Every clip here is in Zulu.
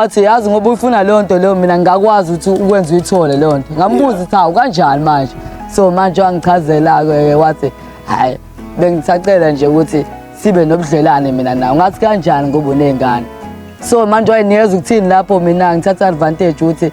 Athi yazi ngoba uyifuna leyo nto leyo mina ngingakwazi ukuthi ukwenza uyithole leyo nto. Ngambuza ukuthi hawu kanjani manje. So manje wangichazela ke wathi hayi bengisacela nje ukuthi sibe nobudlelane mina nawe. Ngathi kanjani ngoba unezingane. So manje wayenikeza ukuthini lapho mina ngithatha advantage ukuthi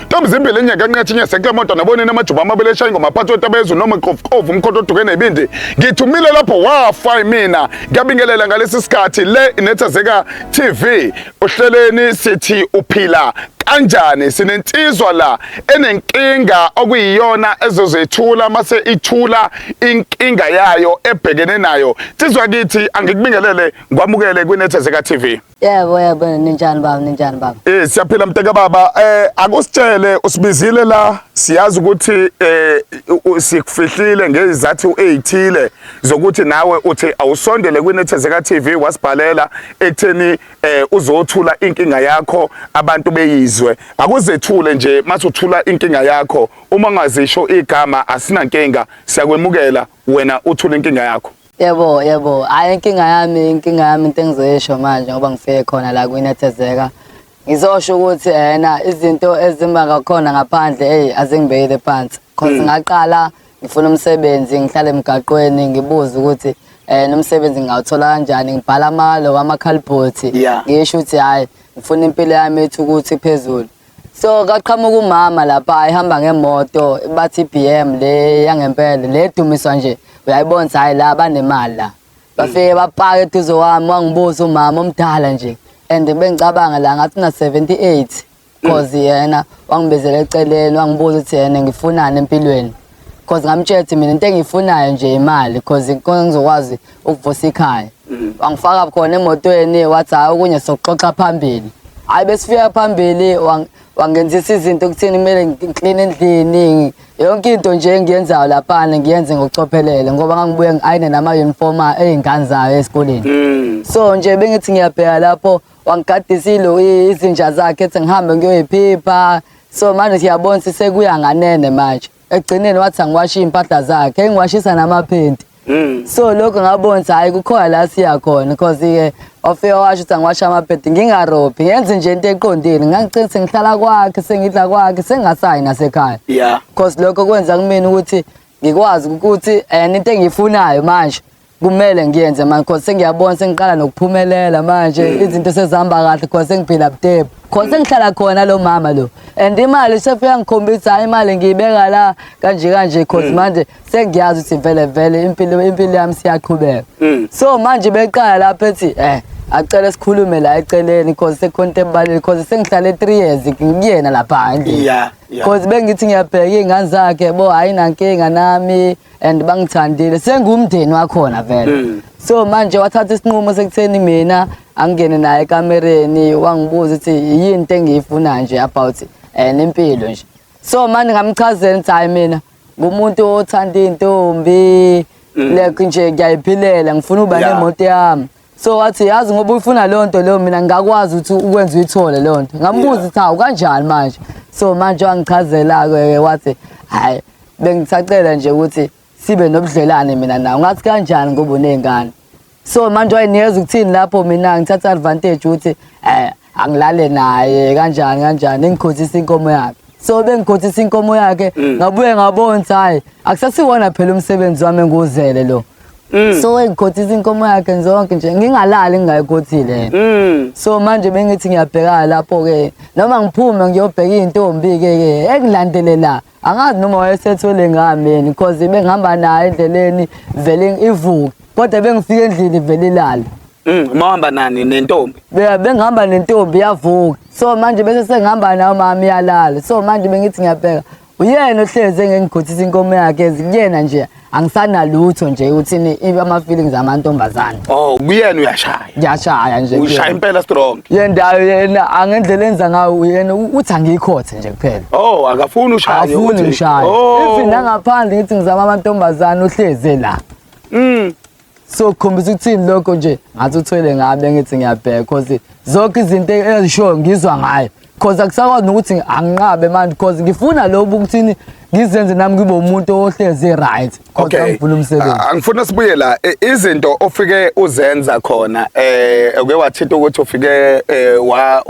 Ntombi zimbili enye kanqathi inye sekla moto nabone namajuba amabili eshaya ingoma aphathi otabezu noma qofuqofu umkhonto oduke nebindi ngithumile lapho wafa imina ngiyabingelela ngalesi sikhathi le inethezeka TV uhleleni sithi uphila kanjani sinensizwa la enenkinga okuyiyona ezozethula mase ithula inkinga yayo ebhekene nayo sizwa kithi angikubingelele ngwamukele kwinethezeka TV Yebo yebo ninjani baba ninjani baba. Eh siyaphila mteka baba eh akusitshele usibizile la siyazi ukuthi eh sikufihlile ngezizathu ezithile zokuthi nawe uthi awusondele kwinethezeka TV wasibhalela ekutheni eh uzothula inkinga yakho abantu beyizwe akuzethule nje mase uthula inkinga yakho uma ngazisho igama asinankinga siyakwemukela wena uthula inkinga yakho Yebo, yebo. Hhayi inkinga yami, inkinga yami into engizoyisho manje ngoba ngifike khona la kwinethezeka. Ngizosho ukuthi yena izinto ezimba ngakhona ngaphandle eyi azingibekile phansi. Cause Mm. ngaqala ngifuna umsebenzi, ngihlale emgaqweni ngibuze ukuthi um umsebenzi ngingawuthola kanjani. Ngibhala amalo wamakhalibhothi. Yeah. Ngisho ukuthi hhayi ngifuna impilo yami ethi ukuthi phezulu. so kaqhamuka umama lapha ehamba ngemoto bathi BM le yangempela le dumiswa nje uyayibona hayi la banemali la bafike bapaka eduze wami wangibuza umama omdala nje and bengicabanga la ngathi na 78 cause yena wangibezela eceleni wangibuza ukuthi yena ngifunani empilweni cause ngamtshela ukuthi mina into engiyifunayo nje imali cause khona ngizokwazi ukuvusa ikhaya mm. wangifaka khona emotweni wathi hhayi okunye sokuxoxa phambili hhayi besifika phambili wangenzisa izinto kuthini kumele ngikline endlini yonke into nje engiyenzayo laphana ngiyenze ngokucophelele ngoba ngangibuye ngi-ayine nama-uniform ey'ngane zayo esikoleni mm. so nje bengithi ngiyabheka lapho wangigadisa ilo izinja zakhe ethi ngihambe ngiyoyiphipha so manje siyabona sisekuya nganene manje ekugcineni wathi angiwashe iy'mpahla zakhe engiwashisa namaphenti Mm. so lokho ngabona ukuthi hhayi kukhona la siya khona because-ke wafika washo ukuthi angiwashe amaphenti ngingarobhi ngenze nje into eqondile ngangicela sengihlala kwakhe sengidla kwakhe sengingasayi nasekhaya ya because lokho kwenza kumina ukuthi ngikwazi ukuthi and into engiyifunayo manje kumele ngiyenze manje cause sengiyabona sengiqala nokuphumelela manje mm. izinto sezihamba kahle cause sengiphila butebu cause sengihlala khona lo mama lo and imali sefika ngikhombisa hayi imali ngiyibeka la kanje kanje cause mm. manje sengiyazi ukuthi vele vele impilo impilo yami siyaqhubeka mm. so manje beqala lapha ethi eh acele sikhulume la eceleni cause sekhonto ebalile cause sengihlale 3 years ngikuyena lapha nje yeah cause bengithi ngiyabheka ingane zakhe bo hayi nankinga nami yeah. and bangithandile sengumndeni wakhona vele mm. so manje wathatha isinqumo sekutheni mina angingene naye ekamereni wangibuza ukuthi yini into engiyifuna nje about um nempilo nje so manje ngamchazela ukuthi hhayi mina ngumuntu othanda iy'ntombi mm. like nje ngiyayiphilela ngifuna uba nemoto yami so wathi yazi ngoba uyifuna leyo nto leyo mina ngingakwazi ukuthi ukwenza uyithole leyo nto ngambuza ukuthi hawu kanjani manje so manje wangichazela-ke wathi hhayi bengisacela nje ukuthi sibe nobudlelane mina nawo ngathi kanjani ngoba uney'ngane so manje wayenikeza ukuthini lapho mina ngithatha advantage ukuthi um angilale naye kanjani kanjani engikhothisa inkomo yakhe so bengikhothisa inkomo yakhe mm. ngabuye ngabona ukuthi hhayi akusasiwona phela umsebenzi wami engiwuzele lo Mm. so engikhothisa inkomo yakhe zonke nje ngingalali ngingayikhothile mm. so manje bengithi ngiyabhekana lapho-ke noma ngiphume ngiyobheka iy'ntombi-ke ke engilandele la angazi noma wayesethwele ngihambeni because bengihamba naye endleleni vele ivuke kodwa bengifika endlini vele ilale Mm, mawamba nani nentombi? Be- bengihamba nentombi yavuka so manje bese sengihamba nayo mama iyalala so manje bengithi ngiyabheka uyena ohlezi engengigothisisa inkomo yakhe ezikuyena nje angisanalutho nje uthini ibe ama feelings amantombazana oh kuyena uyashaya ngiyashaya nje ushaya impela strong yena yena angendlela enza ngayo uyena uthi angikhothe nje kuphela oh akafuni ushaya afuni ushaya oh. even nangaphandle ngithi ngizama amantombazana uhleze la mm so kukhombisa ukuthini lokho nje ngathi uthwele ngabe ngithi ngiyabheka cause zonke izinto ezishoyo ngizwa ngayo cause akusakwazi nokuthi anginqabe manje cause ngifuna lobu ukuthini ngizenze nami ngibe umuntu ohlezi right kodwa ngifuna umsebenzi ah, angifuna sibuye la e, izinto ofike uzenza khona eh uke wathitha ukuthi ufike eh, wa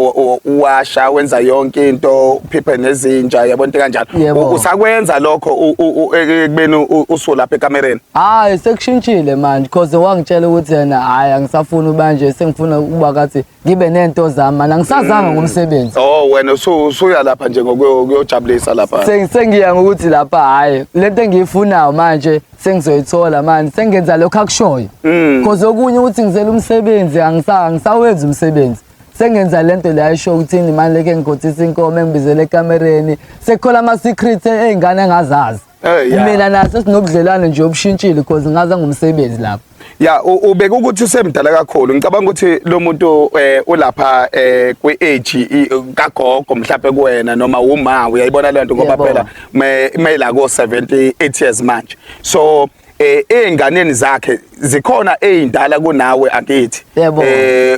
washa wenza yonke into uphiphe nezinja yabona into kanjalo usakwenza lokho e, e, kubeni usulapha ekamereni Hayi sekushintshile manje cause wangitshela ukuthi yena hayi angisafuni ubanje sengifuna ukuba kathi ngibe nento zami manje angisazanga ngomsebenzi. Oh wena usu- usuya lapha nje ngokuyojabulisa lapha. Sengi- Sengiya ngokuthi lapha hayi lento engiyifunayo manje sengizoyithola manje sengenza lokho akushoyo. Mm. Cause okunye ukuthi ngizela umsebenzi angisa angisawenza umsebenzi. Sengenza lento le ayisho ukuthini manje leke ngigotisa inkomo engibizele ekamereni sekukhola ama secrets ezingane engazazi. Eh, yeah. mina naso sinobudlelwane nje obushintshile because ngaza ngomsebenzi lapho ya u- ubeka ukuthi usemdala kakhulu ngicabanga ukuthi lo muntu eh, ulapha eh, kwi-age i- kagogo mhlawumbe kuwena noma wuma uyayibona le nto ngoba Yebo. phela me- meyila ko-78 years manje so eh einganeni zakhe zikhona eindala kunawe akithi eh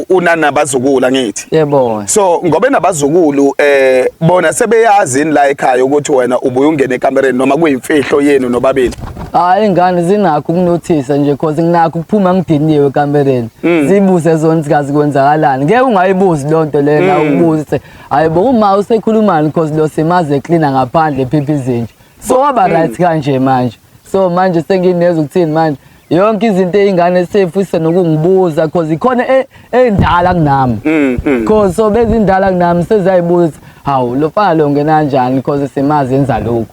unanabazukula ngithi yebo so ngobe nabazukulu eh bona sebeyazi la ekhaya ukuthi wena ubuye ungene ekamereni noma kuyimfihlo yenu nobabili hayi ingane zinakho ukunothisa nje cause nginakho ukuphuma ngidiniwe ekamereni mm. zibuze zona sikazi kwenzakalani ngeke ungayibuzi lonto lena mm. ubuze hayibo uma usekhulumani cause lo simaze cleaner ngaphandle phiphi izinja so waba mm. right kanje manje so manje senginezwe ukuthini manje yonke izinto eyingane sefuse nokungibuza because ikhona e, endala kunami mm, mm. because so bezindala kunami sezayibuza hawu lo fana lo ngena kanjani because simazi enza lokhu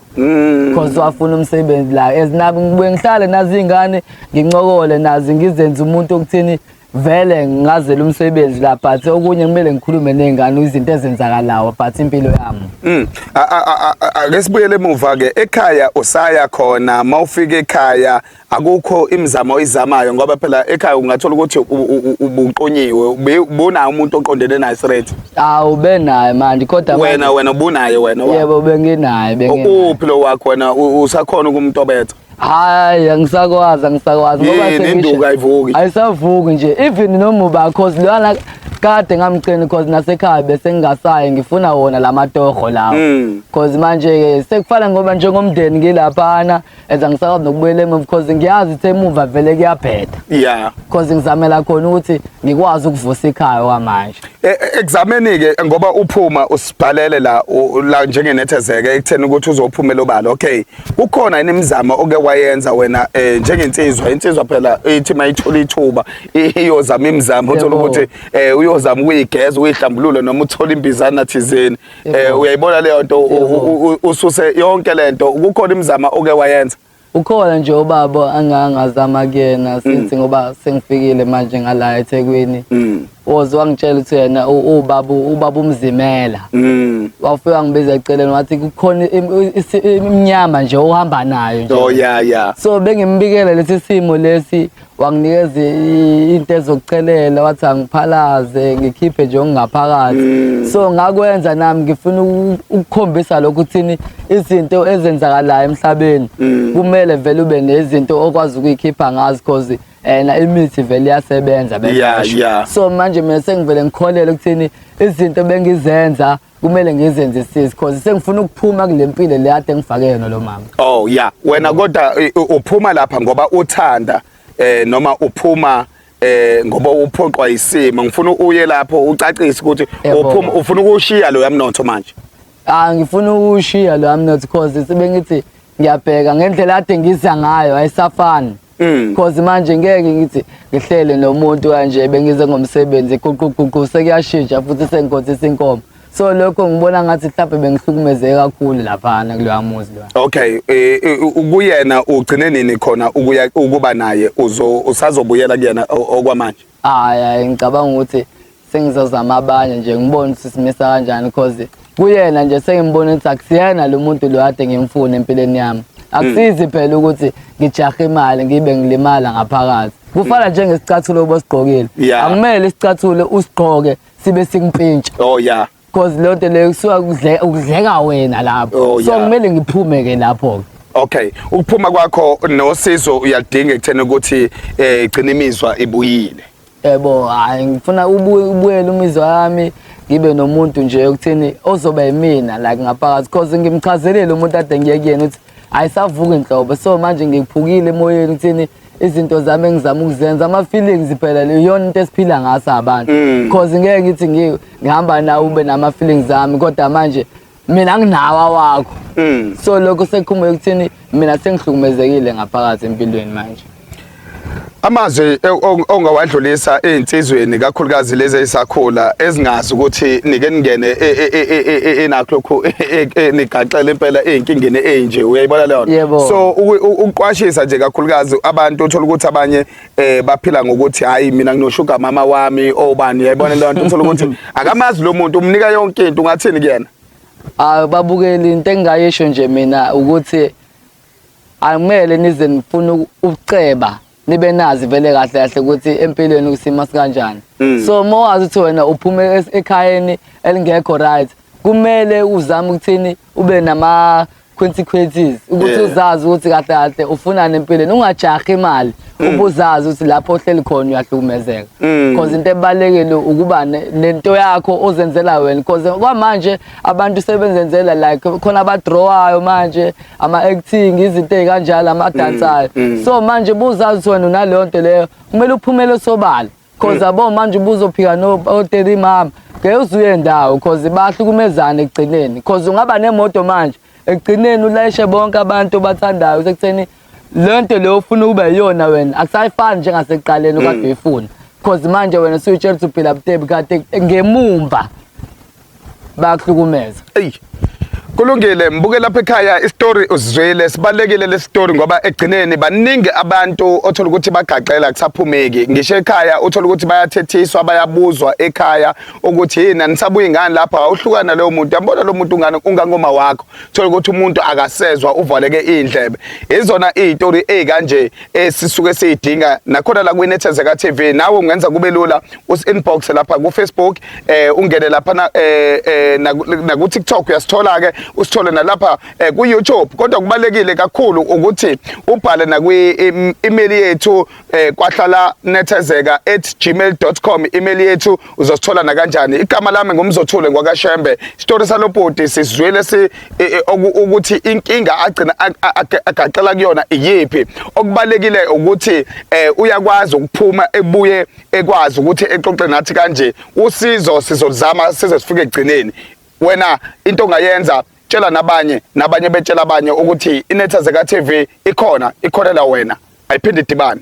because wafuna umsebenzi la as nabo ngibuye ngihlale nazi ingane ngincokole nazi ngizenze umuntu okuthini vele ngingazela umsebenzi la but okunye kumele ngikhulume nengane izinto ezenzakalayo but impilo yami mm. ake sibuyele emuva ke ekhaya usaya khona mawufika ekhaya akukho imizamo oyizamayo ngoba phela ekhaya ungathola ukuthi ubuqonyiwe bunayo umuntu oqondene naye straight awu benaye manje kodwa wena wena ubunaye wena yebo benginaye benginaye uphi lo wakho wena usakhona ukumtobetha hayi angisakwazi angisakwazi ngoba Yini, sengisho- induku ayivuki. ayisavuki nje even nomuba cause lwana kade ngamcini cause nasekhaya besengingasayi ngifuna wona la matoho lawo Mm. cause manje-ke sekufana ngoba njengomndeni ngilaphana as angisakwazi nokubuyela emuva cause ngiyazi ukuthi emuva vele kuyabheda ya cause ngizamela khona ukuthi ngikwazi ukuvusa ikhaya kwamanje E- e- ekuzameni-ke ngoba uphuma usibhalele la u- la njengenethezeke ekutheni ukuthi uzophumela obala okay kukhona yini imizamo oke wayenza wena eh, njengensizwa insizwa phela ithi mayithola ithuba iyozama imizamo uthola ukuthi eh, uyozama ukuyigeza uyihlambulule noma uthola imbizana thizeni eh, uyayibona leyo nto ususe yonke lento kukhona imizamo oke wayenza ukhona nje ubaba angangazama kuyena since mm. ngoba sengifikile manje ngala eThekwini mm. was wangitshela ukuthi yena ubaba ubaba umzimela mm. wafike wangibiza eceleni wathi kukhona imnyama nje ohamba nayo nje oh yeah yeah so bengimbikela lesi simo lesi wanginikeza into ezokucelela wathi angiphalaze ngikhiphe nje okungaphakathi mm. so ngakwenza nami ngifuna ukukhombisa lokhu thini izinto ezenzakalayo emhlabeni mm. kumele vele ube nezinto okwazi ukuyikhipha ngazi cause and imithi vele iyasebenza beyasho yeah, yeah. so manje mina sengivele ngikholele ukuthini izinto bengizenza kumele ngizenze sis because sengifuna ukuphuma kulempilo le ade ngifake yona lo mama oh yeah wena kodwa uphuma lapha ngoba uthanda eh noma uphuma eh ngoba uphoqwa isimo ngifuna uye lapho ucacise ukuthi uphuma ufuna ukushiya lo yamnotho manje ah ngifuna ukushiya lo yamnotho because sibengithi ngiyabheka ngendlela ade ngiza ngayo ayisafani Mm. Cause manje ngeke ngithi ngihlele nomuntu kanje bengize ngomsebenzi guquguqu sekuyashintsha futhi sengikhotha isinkomo. So lokho ngibona ngathi mhlawumbe bengihlukumezeke kakhulu laphana kuloya muzi lwa. Okay, eh, eh, ukuyena ugcine nini khona ukuya ukuba naye uzo usazobuyela kuyena o- okwamanje. hayi hayi ngicabanga ukuthi sengizozama abanye nje ngibone ukuthi simisa kanjani cause kuyena nje sengimbona ukuthi akusiyena lo muntu lo kade ngimfuna empilweni yami akusizi phela ukuthi ngijahe imali ngibe ngilimala ngaphakathi kufana njengesicathulo obosigqokile Yeah. akumele isicathulo usigqoke sibe sikumpintsha oh ya because loo nto leyo kusuka kudle- kudleka wena lapho Oh, so yeah. kumele ngiphume ke lapho-ke okay ukuphuma kwakho nosizo uyalidinga ekutheni ukuthi eh igcina imizwa ibuyile yebo hayi ngifuna ubuye ubuyele umizwa yami ngibe nomuntu nje okuthini ozoba yimina like ngaphakathi cause ngimchazelile umuntu ade ngiye kuyena ukuthi ayisavuki nhlobo so manje ngiphukile emoyeni kuthini izinto zami engizama ukuzenza ama-feelings phela leyona into esiphila ngaso abantu mm. cause ngeke ngithi ngihamba nawe ube nama-feelings ami kodwa manje mina nginawa wakho mm. so lokho sekukhumbuke ukuthini mina sengihlukumezekile ngaphakathi empilweni manje Amazwi ongawadlulisa ezinsizweni kakhulukazi lezi ezisakhula ezingazi ukuthi nike ningene e, e, e, enakho lokhu nigaxele impela ezinkingeni ezinje uyayibona leyo nto so ukuqwashisa nje kakhulukazi abantu uthola ukuthi abanye eh baphila ngokuthi hayi mina nginoshuga mama wami obani uyayibona leyo nto uthola ukuthi akamazi lo muntu umnika yonke into ungathini kuyena ah babukeli into engayisho nje mina ukuthi Akumele nize nifune ukuceba nibe nazi vele kahle kahle ukuthi empilweni kusima sikanjani. Mm. So uma wazi ukuthi wena uphume es- ekhayeni elingekho right kumele uzame ukuthini ube nama consequences ukuthi Yeah. uzazi ukuthi kahle kahle ufunani empilweni ungajahi imali ubuzazi ukuthi lapho ohleli khona uyahlukumezeka Mm. because into ebalekile ukuba ne- nento yakho ozenzela wena because kwamanje abantu sebenzenzela like khona abadrawayo manje ama-acting izinto ey'kanjalo amadansayo mm, mm. so manje buzazi wena unaleyo nto leyo kumele uphumele sobala cause mm. abo manje ubuzophika noteri mama ngeke uzuye ndawo cause bahlukumezane ekugcineni cause ungaba nemoto manje ekugcineni ulayishe bonke abantu obathandayo sekutheni le nto leyo ufuna ube yiyona wena akusayifani njengasekuqaleni okade uyifuna cause manje wena suyitshela ukuthi uphila butebi kade ngemumva bayakuhlukumeza eyi kulungile mbuke lapha ekhaya isitori usizwile sibalekile lesitori ngoba egcineni baningi abantu othola ukuthi bagaxela kusaphumeki ngisho ekhaya uthola ukuthi bayathethiswa bayabuzwa ekhaya ukuthi yini anisabuyi ngani lapha awuhlukana leyo muntu yambona lo muntu ungane ungangoma wakho thola ukuthi umuntu akasezwa uvaleke indlebe izona izitori ezikanje esisuke sidinga nakhona la kwinethezeka TV nawe ungenza kube lula usinbox lapha ku Facebook eh ungene lapha na eh, eh na ku TikTok uyasithola ke usithole nalapha eh, ku YouTube kodwa kubalekile kakhulu ukuthi ubhale na kwi email yethu eh, kwahlala nethezeka@gmail.com email yethu uzosithola na kanjani igama lami ngumzothule ngwakashembe story salobhuti sizwile si eh, eh, ukuthi inkinga agcina agaxela kuyona iyiphi okubalekile ukuthi uyakwazi ukuphuma ebuye ekwazi ukuthi exoxe nathi kanje usizo sizolizama size sifike ekugcineni wena into ongayenza tshela nabanye nabanye betshela abanye ukuthi inetha zeka TV ikhona ikholela wena ayiphinde idibane